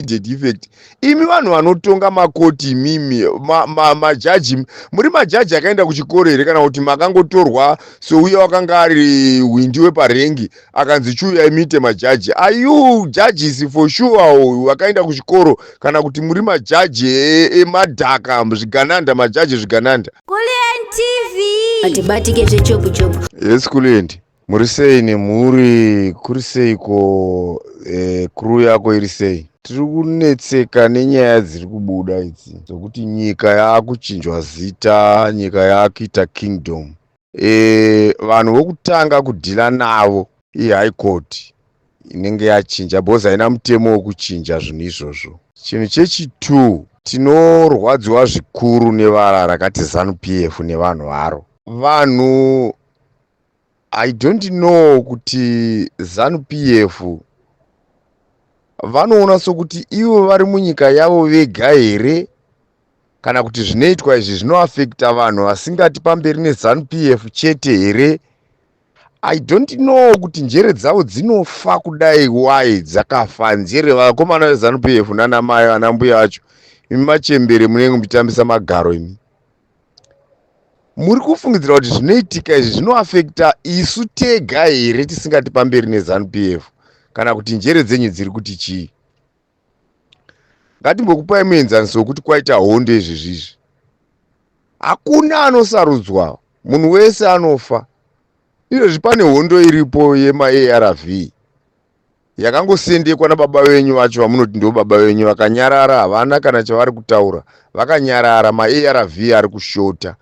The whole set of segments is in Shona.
immediate effect imi vanhu vanotonga makoti imimi majaji ma, ma muri majaji akaenda kuchikoro here kana kuti makangotorwa souya wakanga ari hwindi weparengi akanzi chiuya imite majaji are you judges for sure vakaenda kuchikoro kana kuti muri majaji emadhaka e zvigananda majaji zvigananda kulientv hatibatike zvechobuchobu yes kulienti Muri sei nemhuri? Kuri seiko? Eh, crew yako iri sei? Tiri kunetseka nenyaya dziri kubuda idzi dzokuti nyika yaakuchinjwa zita, nyika yaakuita kingdom. Eh, vanhu vokutanga kudhila navo ihigh court inenge yachinja because haina mutemo wekuchinja zvinhu izvozvo. Chinhu chechitu tinorwadziwa zvikuru nevara rakati Zanu PF nevanhu varo. Vanhu I don't know kuti zanu PF vanoona sokuti ivo vari munyika yavo vega here kana kuti zvinoitwa izvi zvinoafekta vanhu vasingati pamberi nezanu PF chete here I don't know kuti njere dzavo dzinofa kudai why dzakafa njere vakomana vezanu PF nana mai vana mbuya vacho imi machembere munenge muchitambisa magaro imi muri kufungidzira kuti zvinoitika izvi zvinoafekta isu tega here tisingati pamberi nezanu p f kana kuti njere dzenyu dziri kuti chii ngatimbokupai muenzaniso wekuti kwaita hondo izvezvizvi hakuna anosarudzwa munhu wese anofa izvezvi pane hondo iripo yemaarv Yakangosendekwa nababa venyu vacho vamunoti ndivo baba venyu vakanyarara havana kana chavari kutaura vakanyarara maARV ari kushota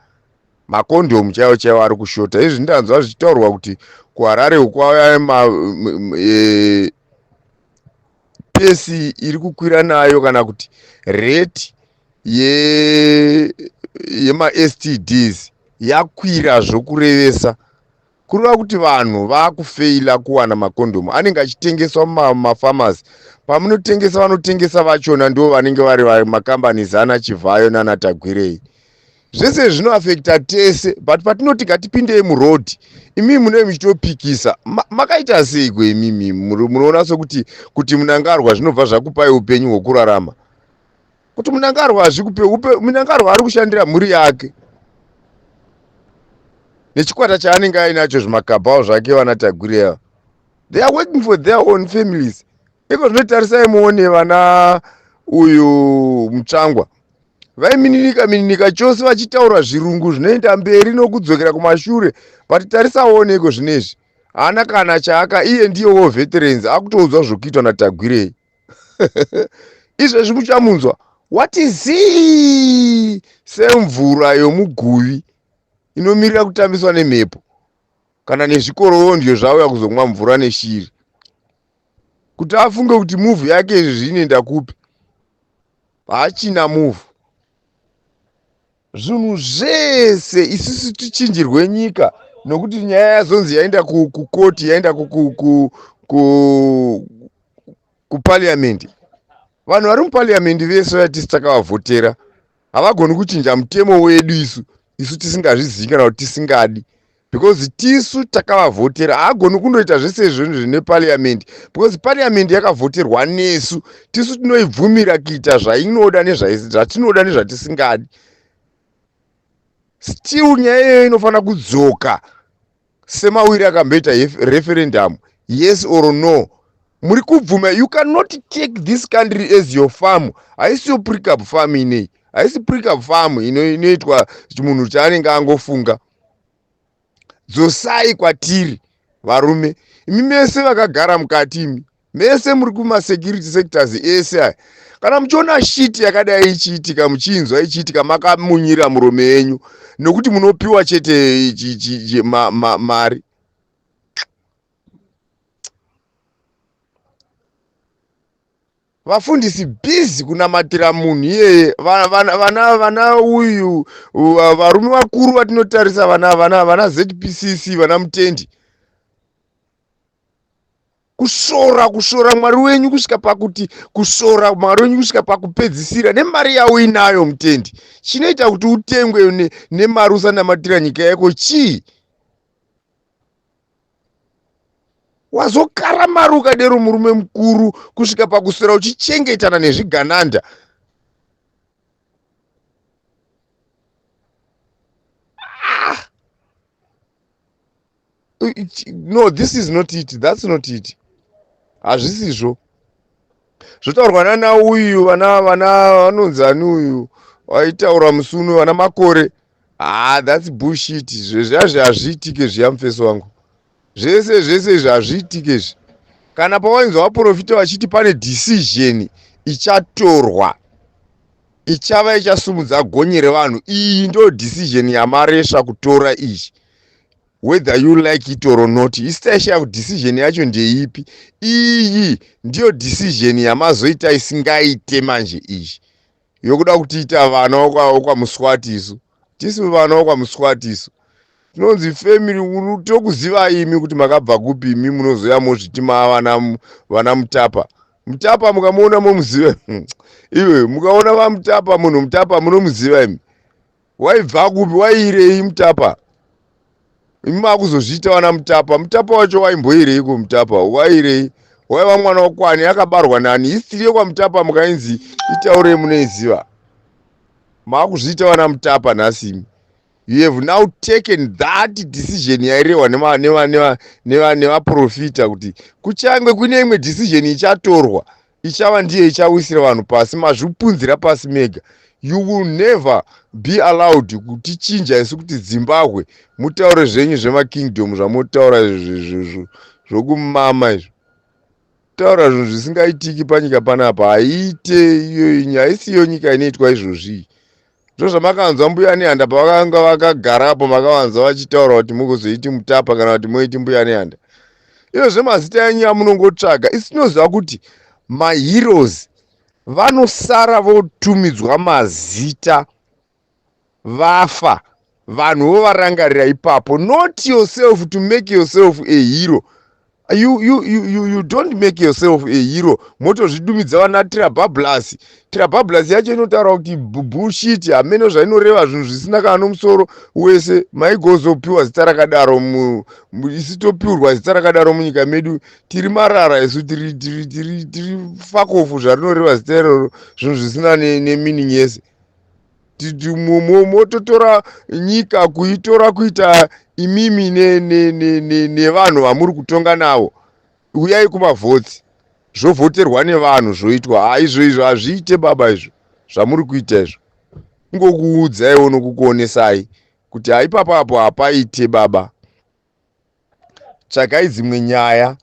makondhomu chaiwo chaiwo ari kushota izvi ndanzwa zvichitaurwa kuti kuharare uku kwauya ma e, pesi iri kukwira nayo kana kuti rate yemastds yakwira zvokurevesa Kureva kuti vanhu vakufeila kuwana makondhomu anenge achitengeswa mumafamasi. Pamunotengesa vanotengesa vachona ndivo vanenge vari makambani zana Chivhayo nana Tagwirei. Zvese zvinoafekita tese but patinoti ngatipindei muroad imimi munenge muchitopikisa makaita seiko imimi munoona sokuti kuti munangarwa zvinobva zvakupai upenyu hwokurarama. kuti munangarwa hazvikupe upe munangarwa ari kushandira mhuri yake nechikwata chaanenge ainacho zvimakabhawo zvake vana tagureva they are working for their own families iko zvinotarisai muone vana uyu mutsvangwa vaimininika mininika chose vachitaura zvirungu zvinoenda mberi nokudzokera kumashure vati tarisaone iko zvinezvi haana kana chaaka iye ndiyowo veterans akutoudzwa zvokuitwa natagwirei izvezvi muchamunzwa wati zii semvura yomuguvi inomirira kutambiswa nemhepo kana nezvikorondyo zvauya kuzomwa mvura neshiri kuti afunge kuti muvhu yake izvezvi inoenda kupi hachina muvhu zvinhu zvese isusu tichinjirwe nyika nokuti nyaya yazonzi yaenda kukoti yaenda kupariamendi vanhu vari mupariamendi vese vatisi takavavhotera havagoni kuchinja mutemo wedu isu isu tisingazvizivi kana kuti tisingadi because tisu takavavhotera haagoni kunoita zvese izvozvo zvine parliamendi because parliamendi yakavhoterwa nesu tisu tinoibvumira kuita zvainoda nezvatinoda nezvatisingadi still nyaya iyoyo inofanira kudzoka semawiri akamboita referendamu yes or no muri kubvuma you cannot take this country as your farm haisi yo prickup farm inei haisi prickup farm inoitwa munhu chaanenge angofunga dzosai kwatiri varume imi mese vakagara mukati imi mese muri kumasecurity sectors ese aya kana muchiona shiti yakadai ichiitika muchiinzwa ichiitika makamunyira murume yenyu nokuti munopiwa chete mari vafundisi busy kunamatira munhu iyeye Va- vana vana vana uyu va- varume vakuru vatinotarisa vana vana vana zpcc vana mutendi kushora kushora mwari wenyu kusvika pakuti kushora mwari wenyu kusvika pakupedzisira nemari yauinayo mutendi chinoita kuti utengwe ne- nemari usanamatira nyika yako chii wazokaramaruka dero murume mukuru kusvika pakuswera uchichengetana nezvigananda ah! no this is not it that's not it hazvisizvo zvotaurwa nana uyu vana vana vanonzi ani uyu vaitaura musi uno vana makore Haa ah, that's bullshit zvezvazvi hazviitike zviya mufeso wangu zvese zvese izvi hazviitike izvi kana pawainzwa vaprofita vachiti pane decision ichatorwa ichava ichasumudza gonye revanhu iyi ndo decision yamaresva kutora izvi whether you like it or not isitaishaya kuti decision yacho ndeipi iyi ndiyo decision yamazoita isingaite manje izvi yokuda kutiita vana wokwamuswati isu tisi vana wokwamuswati isu tinonzi family uru tokuziva imi kuti makabva kupi imi munozoya mozviti maa vana, vana mutapa mutapa mukamuona momuziva iwe mukaona vamutapa munhu mutapa munomuziva imi waibva kupi waiirei mutapa imi makuzozviita vana mutapa mutapa wacho waimboireiko mutapa wairei waiva mwana wakwani akabarwa nani histiri yekwamutapa mukainzi itaurei munoiziva makuzviita vana mutapa nhasi imi you have now taken that decision yairehwa nevaprofita kuti kuchange kune imwe decision ichatorwa ichava ndiye ichawisira vanhu pasi mazvipunzira pasi mega you will never be allowed kutichinja isu kuti zimbabwe mutaure zvenyu zvemakingdom zvamotaura zvokumama izvo taura zvinhu zvisingaitiki panyika panapa haiite iyoyi haisiyo nyika inoitwa izvozvii Ndozvamakanzwa mbuya Nehanda pavakanga vakagara apo makavanzwa vachitaura kuti mukuzoiti mutapa kana kuti moiti mbuya Nehanda. Iyo zvemazita yenyu yamunongotsvaga isi tinoziva kuti maheroes vanosara votumidzwa mazita vafa. vanhu wovarangarira ipapo not yourself to make yourself a hero you, you, you, you don't make yourself a hero motozvidumidza vana trabablasi trabablasi yacho inotaura kuti bullshit hameno zvainoreva zvinhu zvisina kana nomusoro wese maigozopiwa zita rakadaro isi topiurwa zita rakadaro munyika medu tiri marara isu tiri fakofu zvarinoreva zita iroro zvinhu zvisina nemining yese mototora nyika kuitora kuita imimi nevanhu vamuri kutonga navo uyai kumavhotsi zvovhoterwa nevanhu zvoitwa ha izvo izvo hazviite baba izvo zvamuri kuita izvo ingokuudzaiwo nokukuonesai kuti haipapapo hapaite baba tsvagai dzimwe nyaya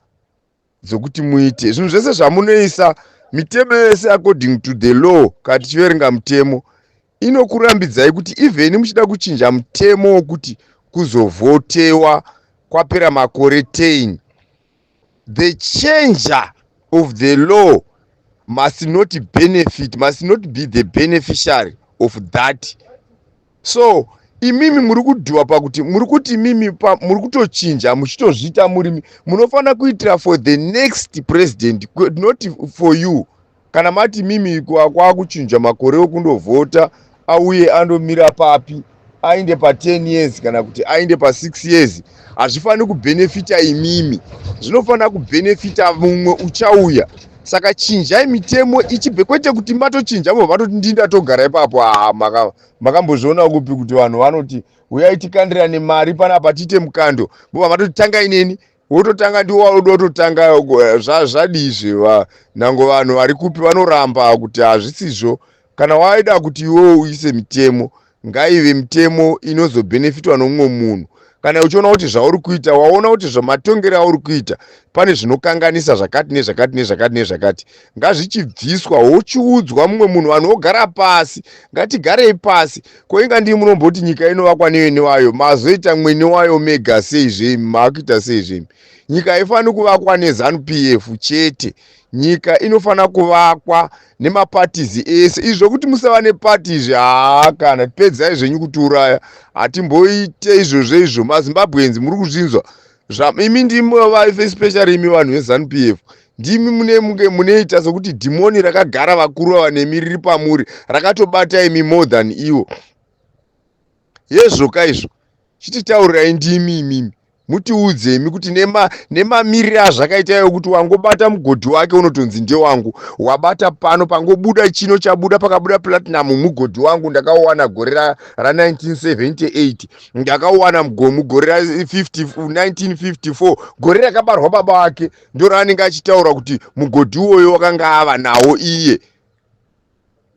dzokuti muite zvinhu zvese zvamunoisa mitemo yese according to the law kana tichiverenga mutemo inokurambidzai kuti even muchida kuchinja mutemo wokuti kuzovhotewa kwapera makore 10 the changer of the law must not benefit must not be the beneficiary of that so imimi muri kudhuwa pakuti muri kuti imimi muri kutochinja muchitozviita murimi munofanira kuitira for the next president not for you kana mati imimi kwakuchinja makore okundovhota auye andomira papi ainde pa10 years kana kuti ainde pa6 years hazvifaniri kubhenefita imimi zvinofanira kubhenefita mumwe uchauya saka chinjai mitemo ichibve kwete kuti matochinja mo vatoti ndii ndatogara ipapo haa makambozviona kupi kuti vanhu vanoti uyai tikandirane mari panapa tiite mukando bova vatoti tangai neni wototanga ndiwo wauda wototanga eh, zvadii zve nango vanhu vari kupi vanoramba kuti hazvisizvo Kana waida kuti iwewe uise mitemo, ngaive mitemo inozobhenefitwa nomumwe munhu. Kana uchiona kuti zvauri kuita, waona kuti zvamatongero auri kuita pane zvinokanganisa zvakati nezvakati nezvakati nezvakati, ngazvichibviswa wochiudzwa mumwe munhu. Vanhu vogara pasi, ngatigarei pasi. Ko inga ndii munomboti nyika inovakwa nevene wayo, mazoita mwene wayo mega sei zvemi, maakuita sei zvemi? Nyika haifaniri kuvakwa neZanu PF chete. nyika inofanira kuvakwa nemapatizi ese izvi zvokuti musava nepati izvi haa kana pedzai zvenyu kutiuraya hatimboite izvozvo izvo mazimbabwenzi muri kuzvinzwa imi ndimi especially imi vanhu vezanup f ndimi mune muke muneita sokuti dhimoni rakagara vakuru ava nemi riri pamuri rakatobata imi more than ivo Hezvo ka izvo. Chititaurirai ndimi imimi. Mutiudze imi kuti nema nemamirire azvakaita iwe kuti wangobata mugodhi wake unotonzi ndewangu. Wabata pano pangobuda chino chabuda pakabuda platinum mugodhi wangu ndakauwana gore ra, ra 1978. Ndakauwana mugo- mugore ra 50, 1954 gore rakabarwa baba wake ndoraanenge achitaura kuti mugodhi uwoyo wakanga ava nawo iye.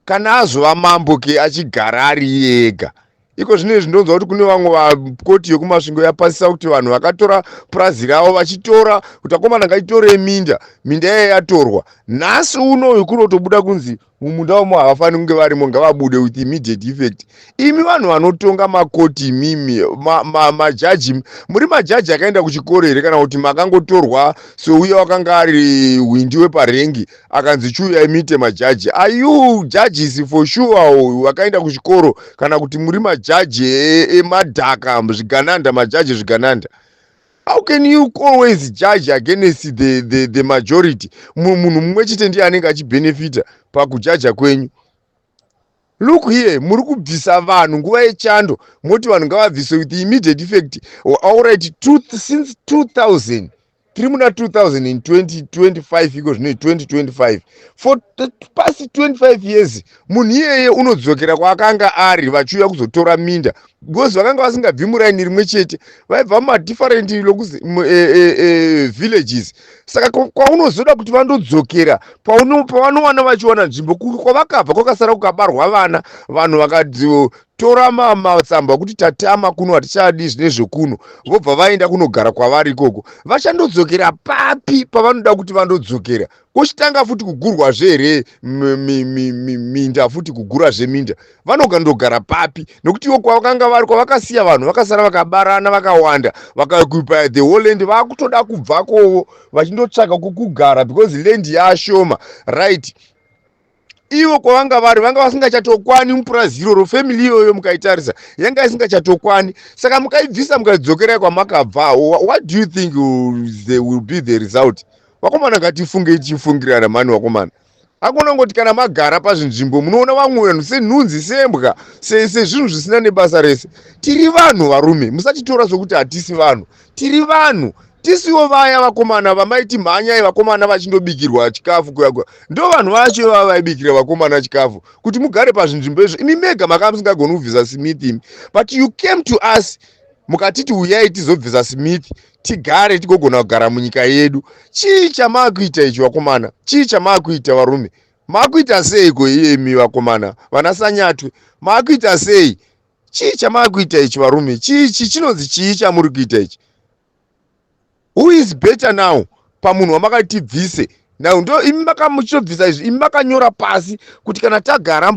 kana azova mambo ke achigara ari iye ega iko zvino izvi ndonzwa kuti kune vamwe vakoti yekumasvingo yapasisa kuti vanhu vakatora purazi ravo vachitora kuti akomana ngatitorei minda minda iye yatorwa nhasi unoyu kunotobuda kunzi mumunda wamo havafaniri kunge varimo ngavabude with immediate effect imi vanhu vanotonga makoti imimi majaji ma, ma muri majaji akaenda kuchikoro here kana kuti makangotorwa souya wakanga ari hwindi weparengi akanzi chiuyai muite majaji ayuu judges for sure uyu wakaenda kuchikoro kana kuti muri majaji e- emadhaka zvigananda majaji zvigananda how can you always judge against the, the, the majority Mu- munhu mumwe chete ndiye anenge achibenefita pakujaja kwenyu Look here muri kubvisa vanhu nguva yechando moti vanhu ngavabviswe with immediate effect auright since 2000 tiri muna 2025 iko zvino 2025 for past 25 years munhu iyeye unodzokera kwaakanga ari vachiuya kuzotora minda because vakanga vasingabvi muraini rimwe chete vaibva mumadifferent lokus e, e, e, villages saka kwaunozoda kuti vandodzokera pavanowana vachiwana nzvimbo kwavakabva kwakasara kukabarwa vana vanhu vakatora matsamba okuti tatama kuno hatichadi zvine zvekuno vobva vaenda kunogara kwavari ikoko vachandodzokera papi pavanoda kuti vandodzokera kochitanga futi kugurwazve here minda futi kugurazve minda vanoga ndogara papi nokuti ivo kwavakanga vari kwavakasiya vanhu vakasara vakabarana vakawanda vakakupa the whole land vakutoda kubvakovo vachindotsvaga kukugara because land yaashoma right ivo kwavanga vari vanga vasingachatokwani mupurazi iroro family iyoyo mukaitarisa yanga isingachatokwani saka mukaibvisa mukadzokerai kwamakabva what do you think the will be the result vakomana ngatifunge tichifungirana mani vakomana akona ngoti kana magara pazvinzvimbo munoona vamwe vanhu senhunzi sembwa sezvinhu zvisina nebasa rese tiri vanhu varume musatitora sokuti hatisi vanhu tiri vanhu tisiwo vaya vakomana vamaiti mhanyai vakomana vachindobikirwa chikafu kuyakwa ndo vanhu vacho ivava vaibikira vakomana chikafu kuti mugare pazvinzvimbo izvo imi mega makanga musingagoni kubvisa smith imi but you came to us mukatiti uyai tizobvisa smith tigare tigogona kugara munyika yedu chii chamaakuita ichi vakomana chii chamaakuita varume maakuita seiko iyemi vakomana vana sanyatwe maakuita sei chii chamakuita ichi varume chii chii chinonzi chii chamuri kuita ichi who is better now pamunhu wamakati bvise now ndo imi makamuchitobvisa izvi imi makanyora pasi kuti kana tagara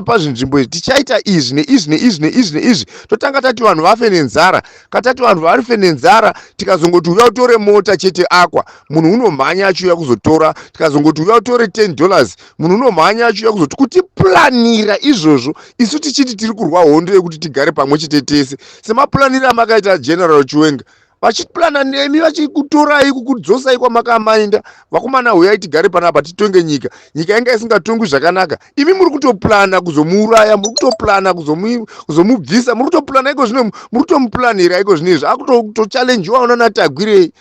pazvinzvimbo izvi tichaita izvi neizvi neizvi neizvi neizvi totanga tati vanhu vafe nenzara katati vanhu varife nenzara tikazongoti uya utore mota chete akwa munhu unomhanya achiuya kuzotora tikazongoti uya utore 10 dollars munhu unomhanya achiuya kuzoti kutiplanira izvozvo isu tichiti tiri kurwa hondo yekuti tigare pamwe chete tese semaplanire amakaita general chiwenga vachiplana nemi vachikutorai kukudzosai kwamakamainda vakomana huyai tigare panapa titonge nyika nyika yanga isingatongwi zvakanaka imi muri kutoplana kuzomuuraya muri kutoplana kuzomubvisa muri kutoplana iko zvino muri kutomuplanira iko zvino izvi akutochallenjiwa unanatagwirei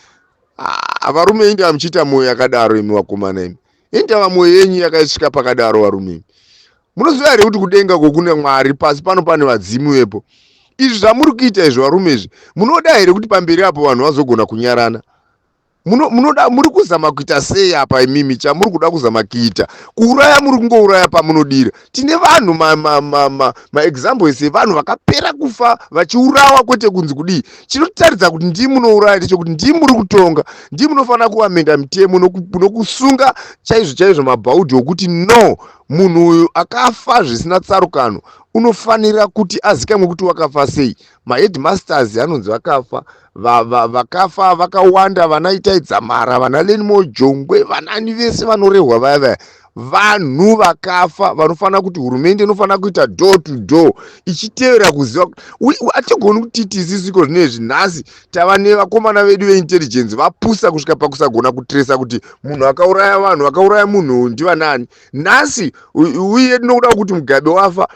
ah, varume inda muchiita mwoyo yakadaro imi vakomana imi Indaramo yenyu yakaisvika pakadaro varume imi. Munoziva here kuti kudenga uko kune Mwari pasi pano pane vadzimu vepo. Izvi zvamuri kuita izvi varume izvi munoda here kuti pamberi apo vanhu vazogona kunyarana? Muno, munoda muri kuzama kuita sei apa imimi chamuri kuda kuzama kuita kuuraya muri kungouraya pamunodira tine vanhu maexamples ma, ma, ma evanhu vakapera kufa vachiurawa kwete kunzi kudii chinotaridza kuti ndii munouraya ndechekuti ndii muri kutonga ndii munofanira kuvamenda mitemo nokusunga noku chaizvo chaizvo mabhaudhi okuti no munhu uyu akafa zvisina tsarukano unofanira kuti azikamwe kuti wakafa sei maheadmasters anonzi vakafa vakafa vakawanda vana itai dzamara vana lenimo jongwe vanani vese vanorehwa vaya vaya vanhu vakafa vanofanira kuti hurumende inofanira kuita door to door ichitevera kuziva hatigoni kuti tisisiko zvine izvi nhasi tava nevakomana vedu veintelligence vapusa kusvika pakusagona kutresa kuti munhu akauraya vanhu vakauraya munhu ndivanaani nhasi uye tinokuda kuti mugabe wafa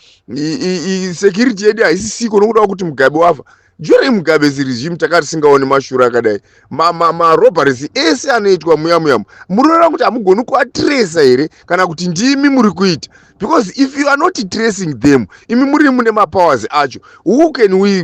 security yedu haisisiko nokuda kuti mugabe wafa during mugabe zirizhimu takati singaone mashura akadai marobaresi ma, ma ese anoitwa muya muyamu munoona kuti hamugoni kuatresa here kana kuti ndimi muri kuita because if you are not tracing them imi muri mune mapowers acho who can we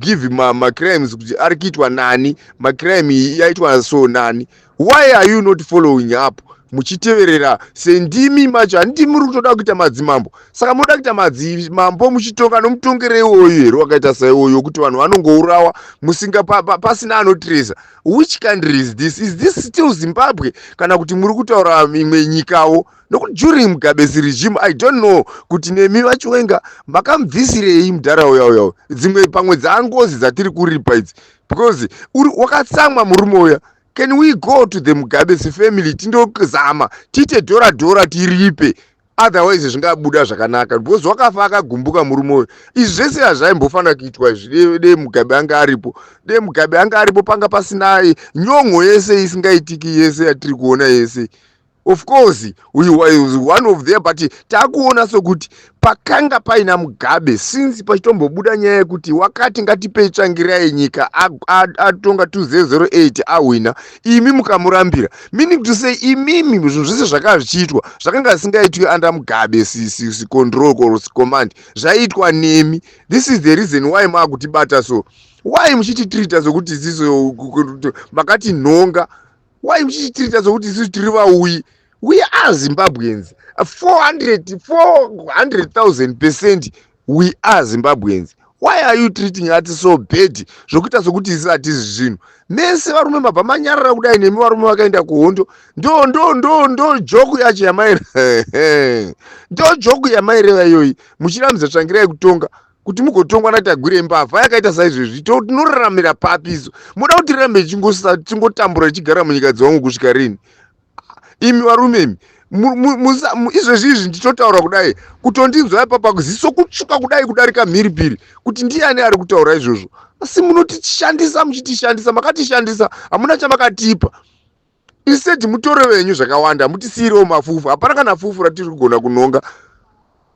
give macrimes ma kuti ari kuitwa nani macrime yaitwa so nani why are you not following up muchiteverera sendimi macho handiti muri kutoda kuita madzimambo saka munoda kuita madzimambo muchitonga nomutongero iwoyo here wakaita saiwoyo wekuti vanhu vanongourawa musinga pasina pa, pa, pa anotireza which country is this is this still zimbabwe kana kuti muri kutaura imwe nyikawo nokuti during mugabesi regime i don't know kuti nemi vachiwenga makamubvisirei mudhara uya uya uya dzimwe pamwe dzaangozi dzatiri kuripa idzi because wakatsamwa murume uya can we go to the mugabe sefamily tindozama tiite dhora dhora tiripe otherwise zvingabuda zvakanaka because wakafa akagumbuka murume uyo izvi zvese hazvaimbofanira kuitwa izvi dee mugabe ange aripo dee mugabe ange aripo panga pasinaye nyongo yese isingaitiki yese yatiri kuona yese of course uyu was one of there but takuona sokuti pakanga paina mugabe since pachitombobuda nyaya yekuti wakati ngatipei tsvangira yenyika atonga 2008 ahwina imi mukamurambira meaning to say imimi zvinhu zvese zvakanga zvichiitwa zvakanga zvisingaitwi under mugabe sicontrol or sicommand zvaiitwa nemi this is the reason why maakutibata so why muchititreata sokuti isiso makati nhonga why muchichitiita sokuti isusu tiri vauyi we are zimbabweans 400000 percent we are zimbabweans why are you treating ati so bad zvokuita sokuti isi hatizi zvinhu mese varume mabva manyarara kudai nemi varume vakaenda kuhondo ndo ndo ndo ndo joku yacho yamaire ndo joku yamaireva iyoyi muchiramidza tsvangirai kutonga kuti mugotongwa natagwire mbavha yakaita saizvezvi to tinoraramira papi isu moda kuti tirambe tichingotambura tichigara munyika dzewangu kusvika rini imi varume imi izvezvi izvi ndichotaura kudai kutondinzwa ipapa ziso kutsvuka kudai kudarika mhiripiri kuti ndiani ari kutaura izvozvo asi munotishandisa muchitishandisa makatishandisa hamuna chamakatipa instead mutoro venyu zvakawanda mutisiirewo mafufu hapana kana fufu ratiri kugona kunonga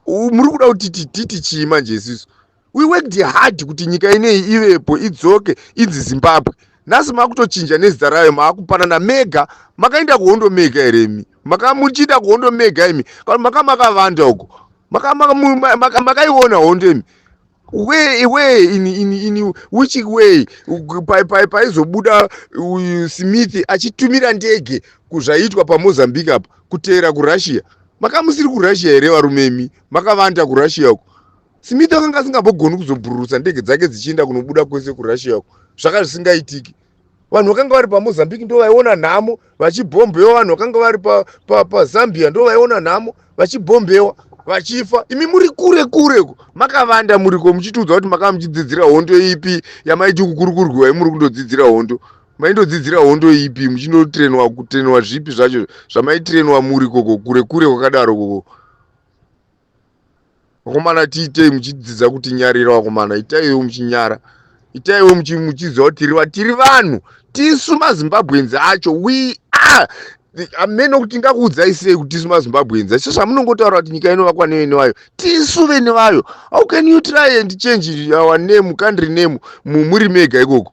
muri kuda kuti titi chii manje isisu we worked hard kuti nyika ineyi ivepo idzoke inzi zimbabwe nhasi makutochinja nezita rayo maakupanana mega makaenda kuhondo mega here imi maka muchiita kuhondo mega imi kana maka makavanda uko makaiona hondo imi way way in, in, in which way paizobuda uyu smith achitumira ndege kuzvaitwa pamozambique apa kuteera kurussia makamusiri kurussia here varume imi makavanda kurussia uko smith akanga asingambogoni kuzobhururusa ndege dzake dzichienda kunobuda kwese kurussia uko zvaka zvisingaitiki vanhu vakanga vari pamozambique ndo vaiona nhamo vachibhombewa vanhu vakanga vari pazambia pa, pa ndo vaiona nhamo vachibhombewa vachifa imi muri kure kure ko makavanda muriko muchitiudza kuti makava muchidzidzira hondo ipi yamaiti kukurukurwiwa imuri kundodzidzira hondo maindodzidzira hondo ipi muchindotrenwa kutrenwa zvipi zvacho zvamaitrenwa muri koko kure kure kwakadaro koko vakomana tiitei muchidzidza kuti nyarira vakomana itaiwo muchinyara itaiwo muchiziva kuti tiri vanhu tiri vanhu tisu mazimbabweans acho we are ameno kuti tingakuudzai sei kuti tisu mazimbabweans acho zvamunongotaura kuti nyika inovakwa nevene vayo tisu vene vayo how can you try and change our name country name muri mega ikoko